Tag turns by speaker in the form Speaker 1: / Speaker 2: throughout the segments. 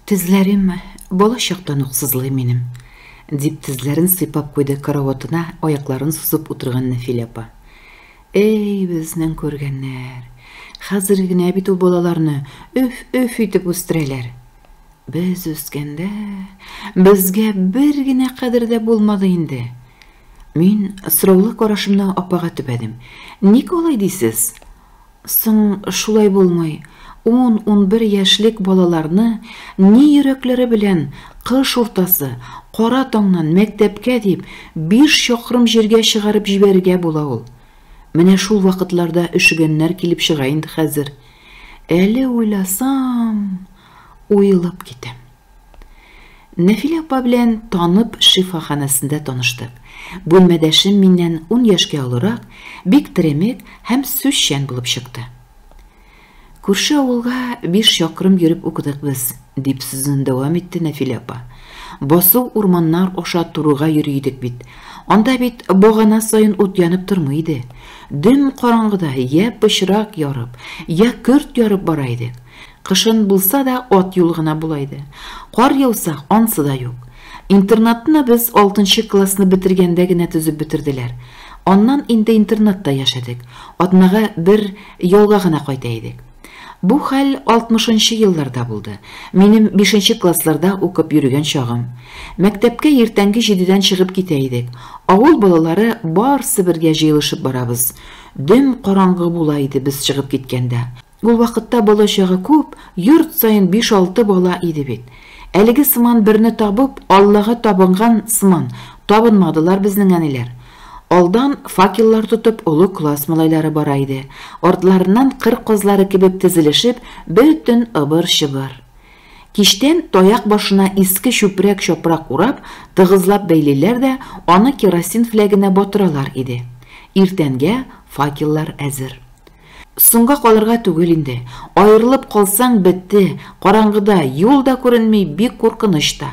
Speaker 1: Тезләрем бала чактан ук сызлый минем, дип тезләрен сыйпап куйды караватына аякларын сузып утырган Нәфилә апа. Эй, безнең күргәннәр. Хәзер генә бит ул балаларны өф-өф итеп үстерәләр. Без үскәндә безгә бер генә кадер дә булмады инде. Мин сораулы карашымны апага төбәдем. Ник алай дисез? Соң шулай булмый, ун-унбер яшьлек балаларны ни йөрәкләре белән кыш уртасы, кара таңнан мәктәпкә дип биш чакрым җиргә чыгарып җибәрергә була ул? Менә шул вакытларда өшегәннәр килеп чыга инде хәзер. Әле уйласам, уелып китәм. Нәфилә апа белән танып шифаханәсендә таныштык. Бүлмәдәшем миннән ун яшькә олырак, бик теремек һәм сүзчән булып чыкты. Күрше авылга биш чакрым йөреп укыдык без, дип сүзен дәвам итте Нәфилә апа. Басу урманнар аша турыга йөри идек бит. Анда бит багана саен ут янып тормый иде. Дөм караңгыда я пычрак ярып, я көрт ярып бара идек. Кышын булса да ат юл гына була иде. Кар яуса, ансы да юк. Интернатны без алтынчы классны бетергәндә генә төзеп бетерделәр. Аннан инде интернатта яшәдек. Атнага бер ялга гына кайта идек. Бу хәл 60-нчы елларда булды. Минем 5-нче классларда укып йөргән чагым. Мәктәпкә иртәнге җидедән чыгып китә идек. Авыл балалары барсы бергә җыелышып барабыз. Дөм караңгы була иде без чыгып киткәндә. Ул вакытта балачагы күп, йорт саен биш-алты бала иде бит. Әлеге сыман берне табып, Аллага табынган сыман, табынмадылар безнең әниләр. Алдан факеллар тотып олы класс малайлары бара иде, артларыннан кыр казлары кебек тезелешеп, бөтен ыбыр-чыбыр. Кичтән таяк башына иске чүпрәк-чапрак урап, тыгызлап бәйлиләр дә, аны керосин фләгенә батыралар иде. Иртәнгә факеллар әзер. Соңга калырга түгел инде. Аерылып калсаң, бетте. Караңгыда, юл да күренми, бик куркыныч та.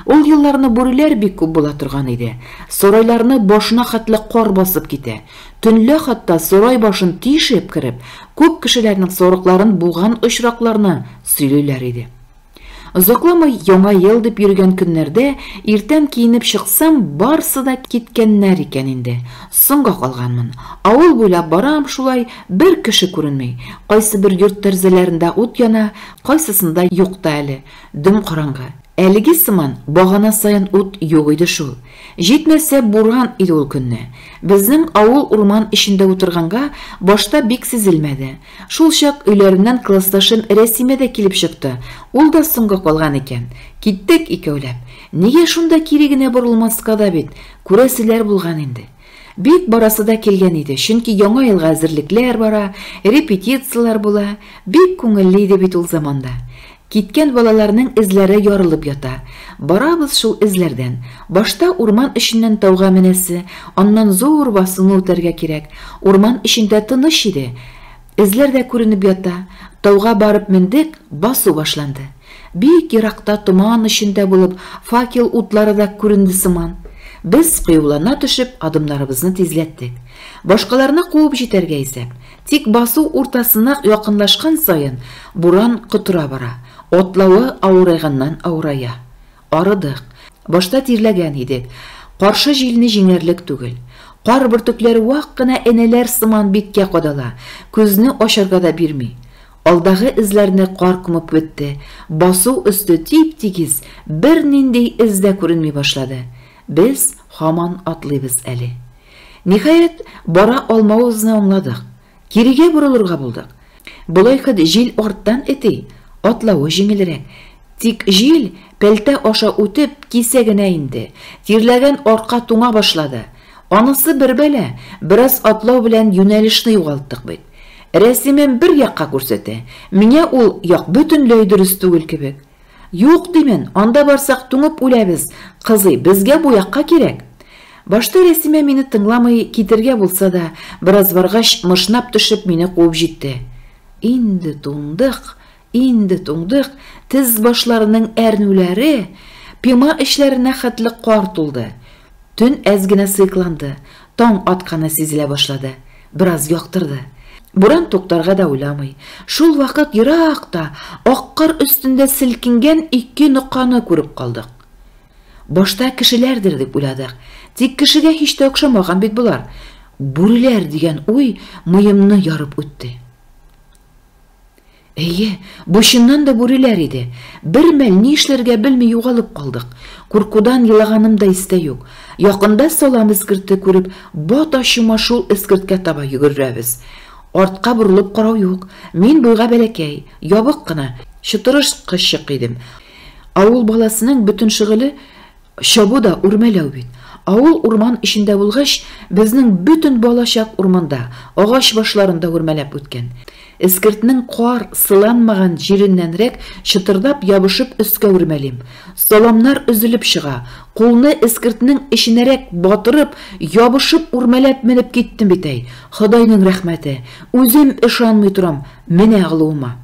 Speaker 1: Ул елларны бүреләр бик күп була торган иде. Сарайларны башына хәтле кар басып китә. Төнлә хәтта сарай башын тишеп кереп, күп кешеләрнең сарыкларын буган очракларны сөйлиләр иде. Озакламый яңа ел дип йөргән көннәрдә иртән киенеп чыксам, барсы да киткәннәр икән инде. Соңга калганмын. Авыл буйлап барам шулай, бер кеше күренми. Кайсы бер йорт тәрзәләрендә ут яна, кайсысында юк та әле. Дөм караңгы. Әлеге сыман багана саен ут юк иде шул. Җитмәсә, буран иде ул көнне. Безнең авыл урман эчендә утырганга, башта бик сизелмәде. Шулчак өйләреннән классташым Рәсимә дә килеп чыкты, ул да соңга калган икән. Киттек икәүләп. Нигә шунда кире генә борылмаска да бит, күрәселәр булган инде. Бик барасы да килгән иде, чөнки Яңа елга әзерлекләр бара, репетицияләр була, бик күңелле иде бит ул заманда. Киткән балаларның эзләре ярылып ята. Барабыз шул эзләрдән. Башта урман эченнән тауга менәсе, аннан зур басуны үтәргә кирәк. Урман эчендә тыныч иде. Эзләр дә күренеп ята. Тауга барып мендек, басу башланды. Бик еракта томан эчендә булып, факел утлары да күренде сыман. Без, кыюлана төшеп, адымнарыбызны тизләттек. Башкаларны куып җитәргә исәп. Тик басу уртасына якынлашкан саен буран котыра бара, атлавы авырайганнан-авырая. Арыдык. Башта тирләгән идек. Каршы җилне җиңәрлек түгел. Кар бөртекләре вак кына энәләр сыман биткә кадала, күзне ачарга да бирми. Алдагы эзләрне кар күмеп бетте, басу өсте тип-тигез, бернинди эз дә күренми башлады. Без һаман атлыйбыз әле. Ниһаять, бара алмавыбызны аңладык. Кирегә борылырга булдык. Болай хет җил арттан эти, атлавы җиңелрәк. Тик җил, пәлтә аша үтеп, кисә генә инде. Тирләгән арка туңа башлады. Анысы бер бәла, бераз атлау белән юнәлешне югалттык бит. Рәсимем бер якка күрсәтә, миңа ул як бөтенләй дөрес түгел кебек. Юк, димен, анда барсак туңып үләбез, кызый, безгә бу якка кирәк. Башта Рәсимә мине тыңламый, китергә булса да, бераз баргач, мышнап төшеп, мине куып җитте. Инде туңдык, инде туңдык, тез башларының әрнүләре, пима эчләренә хәтле кар тулды. Төн әз генә сыекланды, таң атканы сизелә башлады. Бераз яктырды. Буран туктарга да уйламый. Шул вакыт еракта, ак кар өстендә селкенгән ике ноканы күреп калдык. Башта кешеләрдер дип уйладык, тик кешегә һич тә охшамаган бит болар. Бүреләр дигән уй муемны ярып үтте. Әйе, бу чыннан да бүреләр иде. Бер мәл ни эшләргә белми югалып калдык. Куркудан елаганым да истә юк. Якында салам эскерте күреп, бата-чума шул эскерткә таба йөгерерәбез. Артка борылып карау юк. Мин буйга бәләкәй, ябык кына, чытырышкычык идем. Авыл баласының бөтен шөгыле Чабу да үрмәләү бит. Авыл урман эчендә булгач, безнең бөтен балачак урманда, агач башларында үрмәләп үткән. Эскертнең кар сыланмаган җиреннәнрәк чытырдап ябышып өскә үрмәлим. Саламнар өзелеп чыга. Кулны эскертнең эченәрәк батырып, ябышып үрмәләп менеп киттем бит әй! Ходайның рәхмәте! Үзем ышанмый торам менә алуыма.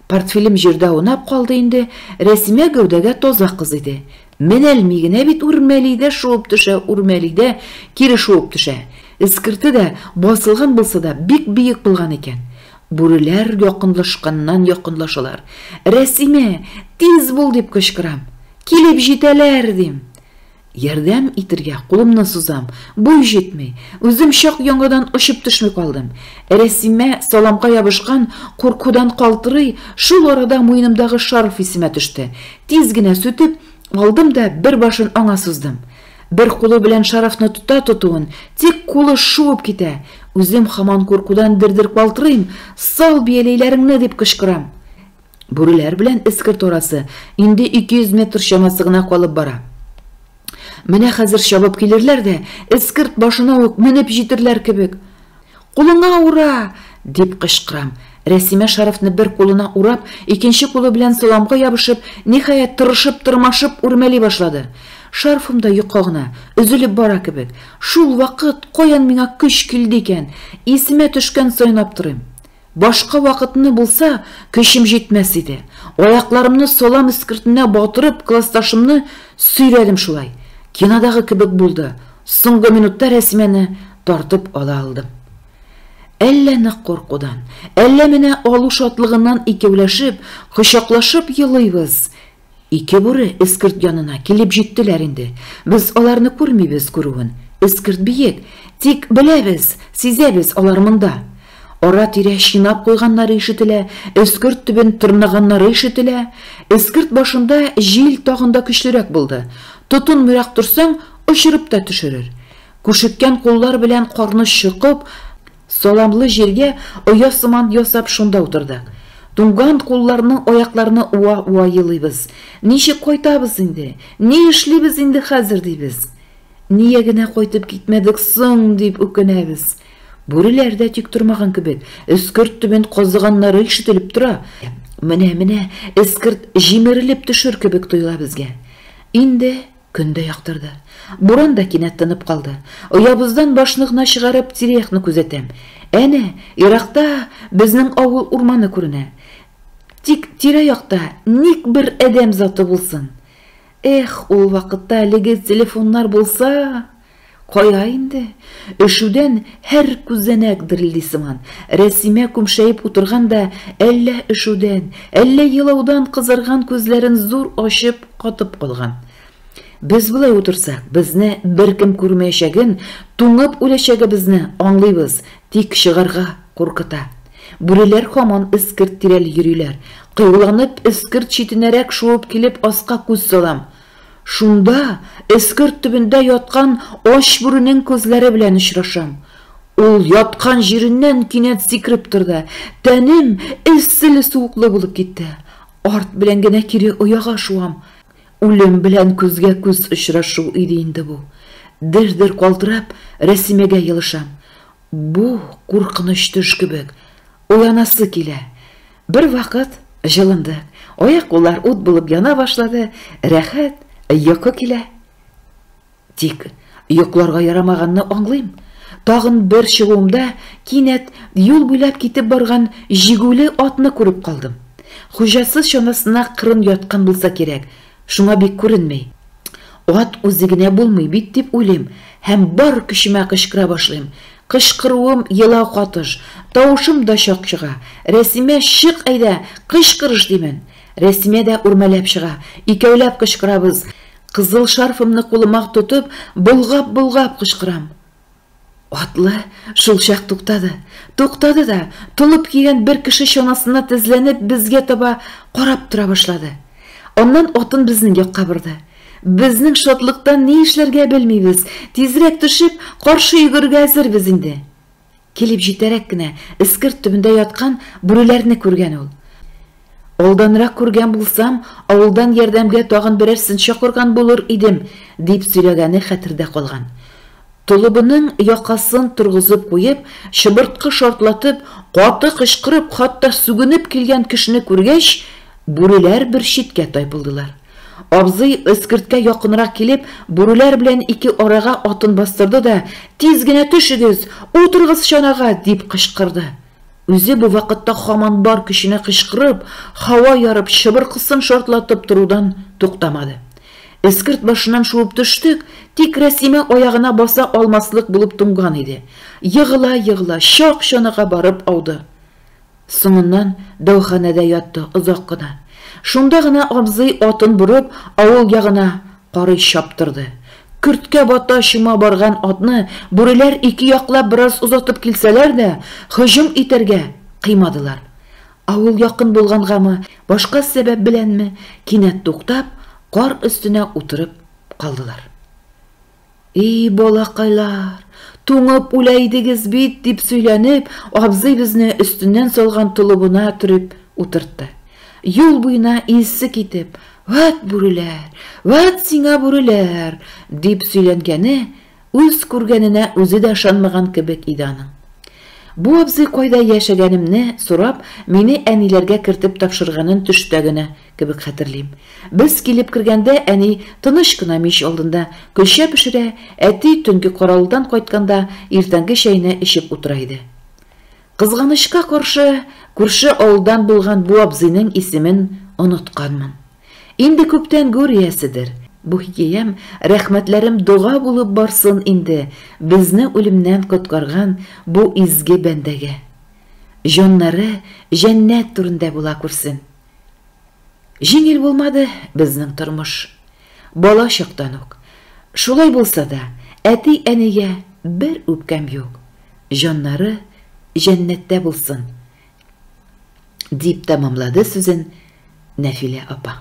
Speaker 1: Портфелем җирдә аунап калды инде, Рәсимә гәүдәгә таза кыз иде. Менәлми генә бит үрмәли дә шуып төшә, үрмәли дә кире шуып төшә. Эскерте дә, басылган булса да, бик биек булган икән. Бүреләр якынлашканнан якынлашалар. Рәсимә, тиз бул, дип кычкырам. Килеп җитәләр, дим. Ярдәм итергә кулымны сузам, буй җитми. Үзем чак яңадан очып төшми калдым. Рәсимә саламга ябышкан, куркудан калтырый, шул арада муенымдагы шарф исемә төште. Тиз генә сүтеп, алдым да бер башын аңа суздым. Бер кулы белән шарфны тота тотуын, тик кулы шуып китә. Үзем хаман куркудан дер-дер калтырыйм, Сал бияләйләреңне! дип кычкырам. Бүреләр белән эскерт арасы инде 200 метр чамасы гына калып бара. Менә хәзер чабып килерләр дә, эскерт башына ук менеп җитерләр кебек. Кулыңа ура! дип кычкырам. Рәсимә шарфны бер кулына урап, икенче кулы белән саламга ябышып, ниһаять тырышып, тырмашып үрмәли башлады. Шарфым да йока гына, өзелеп бара кебек. Шул вакыт каян миңа көч килде икән? Исемә төшкән саен аптырыйм. Башка вакытны булса, көчем җитмәс иде. Аякларымны салам эскертенә батырып, классташымны сөйрәдем шулай. Кинодагы кебек булды, соңгы минутта Рәсимәне тартып ала алдым. Әллә нык куркудан, әллә менә алу шатлыгыннан икәүләшеп, кочаклашып елыйбыз, Ике бүре эскерт янына килеп җиттеләр инде. Без аларны күрмибез күрүен. Эскерт биек, тик беләбез, сизәбез, алар монда. Ара-тирә чинап куйганнары ишетелә, эскерт төбен тырнаганнары ишетелә. Эскерт башында җил тагын да көчлерәк булды. Тотынмыйрак торсаң, очырып та төшерер. Күшеккән куллар белән карны чокып, Саламлы җиргә оя сыман ясап шунда утырдык. Туңган кулларны, аякларны уа-уа елыйбыз. Ничек кайтабыз инде? Ни эшлибез инде хәзер дибез. Ния генә кайтып китмәдек соң дип үкенәбез. Бүреләр дә тик тормаган кебек, эскерт төбен казыганнары ишетелеп тора. Менә-менә эскерт җимерелеп төшер кебек тоела безгә. Инде Көн дә яктырды. Буран да кинәт тынып калды. Оябыздан башны гына чыгарып, тирә-якны күзәтәм. Әнә, еракта безнең авыл урманы күренә. Тик тирә-якта ник бер адәм заты булсын? Эх, ул вакытта әлеге телефоннар булса! Кая инде, өшүдән һәр күзәнәк дерелди сыман, Рәсимә күмшәеп утырган да, әллә өшүдән, әллә елаудан кызарган күзләрен зур ачып, катып калган. Без болай утырсак, безне беркем күрмәячәген, туңып үләчәгебезне аңлыйбыз, тик чыгарга куркыта. Бүреләр һаман эскерт тирәли йөриләр. Кыюланып, эскерт читенәрәк шуып килеп, аска күз салам. Шунда эскерт төбендә яткан ач бүренең күзләре белән очрашам. Ул яткан җиреннән кинәт сикереп торды, тәнем эсселе-суыклы булып китте. Арт белән генә кире ояга шуам. Үлем белән күзгә-күз очрашу иде инде бу. Дер-дер калтырап, Рәсимәгә елышам. Бу куркыныч төш кебек. Уянасы килә. Бервакыт җылынды. Аяк-куллар ут булып яна башлады. Рәхәт, йокы килә. Тик йокларга ярамаганны аңлыйм. Тагын бер чыгуымда кинәт юл буйлап китеп барган җигүле атны күреп калдым. Хуҗасыз чанасына кырын яткан булса кирәк, Шуңа бик күренми. Ат үзе генә булмый бит, дип уйлыйм һәм бар көчемә кычкыра башлыйм. Кычкыруым елау катыш, тавышым да чак чыга. Рәсимә, чык әйдә, кычкырыш, димен. Рәсимә дә үрмәләп чыга. Икәүләп кычкырабыз. Кызыл шарфымны кулыма тотып, болгап-болгап кычкырам. Атлы шулчак туктады. Туктады да, толып кигән бер кеше чанасына тезләнеп, безгә таба карап тора башлады. Аннан атын безнең якка борды. Безнең шатлыктан ни эшләргә белмибез, тизрәк төшеп, каршы йөгергә әзербез инде. Килеп җитәрәк кенә эскерт төбендә яткан бүреләрне күргән ул. Алданрак күргән булсам, авылдан ярдәмгә тагын берәрсен чакырган булыр идем, дип сөйләгәне хәтердә калган. Толыбының якасын торгызып куеп, чыбырткы шартлатып, каты кычкырып, хатта сүгенеп килгән кешене күргәч, бүреләр бер читкә тайпылдылар. Абзый, эскерткә якынрак килеп, бүреләр белән ике арага атын бастырды да, Тиз генә төшегез! Утырыгыз чанага! дип кычкырды. Үзе бу вакытта һаман бар көченә кычкырып, һава ярып, чыбыркысын шартлатып торудан туктамады. Эскерт башыннан шуып төштек, тик Рәсимә аягына баса алмаслык булып туңган иде. Егыла-егыла, чак чаныга барып ауды. Соңыннан дәваханәдә ятты озак кына. Шунда гына абзый, атын борып, авыл ягына Карый чаптырды. Көрткә бата чума барган атны бүреләр ике яклап бераз озатып килсәләр дә, һөҗүм итәргә кыймадылар. Авыл якын булгангамы, башка сәбәп беләнме, кинәт туктап, кар өстенә утырып калдылар. И, балакайлар, туңып үлә идегез бит, дип сөйләнеп, абзый безне өстеннән салган толыбына төреп утыртты. Юл буена илсе китеп, Вәт бүреләр, вәт сиңа бүреләр, дип сөйләнгәне үз күргәненә үзе дә ышанмаган кебек иде аның. Бу абзый кайда яшәгәнемне сорап, мине әниләргә кертеп тапшырганын төштә генә Кебек хәтерлим. Без килеп кергәндә, әни тыныч кына мич алдында көлчә пешерә, әти төнге каравылдан кайтканда иртәнге чәйне эчеп утыра иде. Кызганычка каршы, күрше авылдан булган бу абзыйның исемен онытканмын. Инде күптән гүр ияседер. Бу хикәям, рәхмәтләрем дога булып барсын инде безне үлемнән коткарган бу изге бәндәгә. Җаннары җәннәт түрендә була күрсен. Җиңел булмады безнең тормыш. Бала чактан ук. Шулай булса да, әти-әнигә бер үпкәм юк. Җаннары җәннәттә булсын, дип тәмамлады сүзен Нәфилә апа.